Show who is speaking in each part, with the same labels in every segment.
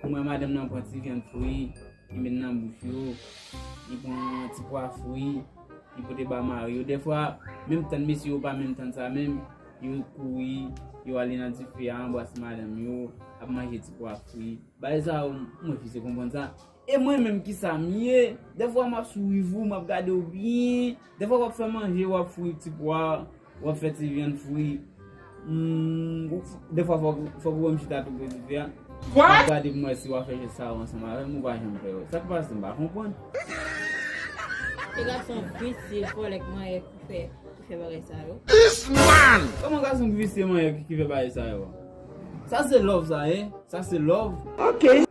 Speaker 1: Pou mwen madanm nan pran ti vyann fri li met nan bouch yo, li pran ti pwa fri li pote ba mari yo. Dèfwa menm tann mesye yo pa menm tann sa menm, yo kouri yo ale nan dife a anbrase madanm yo, ap manje ti pwa fri. Bagay sa yo m refize konprann sa. E mwen menm kisa m ye? Dèfwa m ap swiv ou, m ap gade ou byen, dèfwa w ap fè manje, w ap fri ti pwa. Wap fè ti vyann fri. Humm defwa fok ou wèm chita tou pou di vyann. Wap gadem wè si wap fè jès sa yo ansanm avèm ou pa janm fè yo. Sak pase mpa konprann. Ti
Speaker 2: gason
Speaker 1: visye volek manyè ki fè bagay sa yo. This man! Koman gason ki visye manyè ki fè bagay sa yo. Sa se love sa ye? Sa se love? Ok.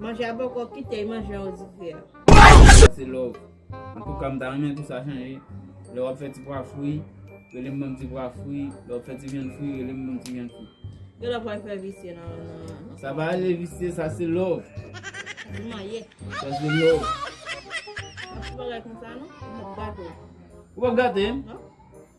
Speaker 2: Manje a poko kite e manje an dife a. Sa se
Speaker 1: love. Antouka m ta renmen pou sa chanje. Lè wap fè ti pwa fri, rele m ban m ti pwa fri. Lè wap fè ti vyann fri, rele m ban m ti vyann fri. Gen lè pwa fè
Speaker 2: visye nan nan. Sa pa rele visye,
Speaker 1: sa se love. Di
Speaker 2: manyen. Sa se love. Ou
Speaker 1: pap
Speaker 2: gatem. Ou pap gatem?
Speaker 1: Non.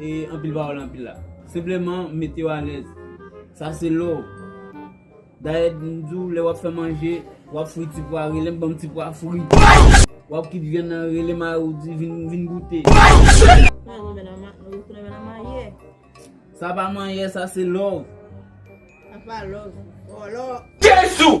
Speaker 1: E anpil pawòl anpil la. Senpleman mete yo alèz. Sa se lò w. Dayè m di w lè w ap fè manje, w ap fri ti pwa, rele m ban m ti pwa fri. W ap kit vyann nan, rele mari w di vin goute. Sa pa manyè, sa se lò
Speaker 2: w. Jezou!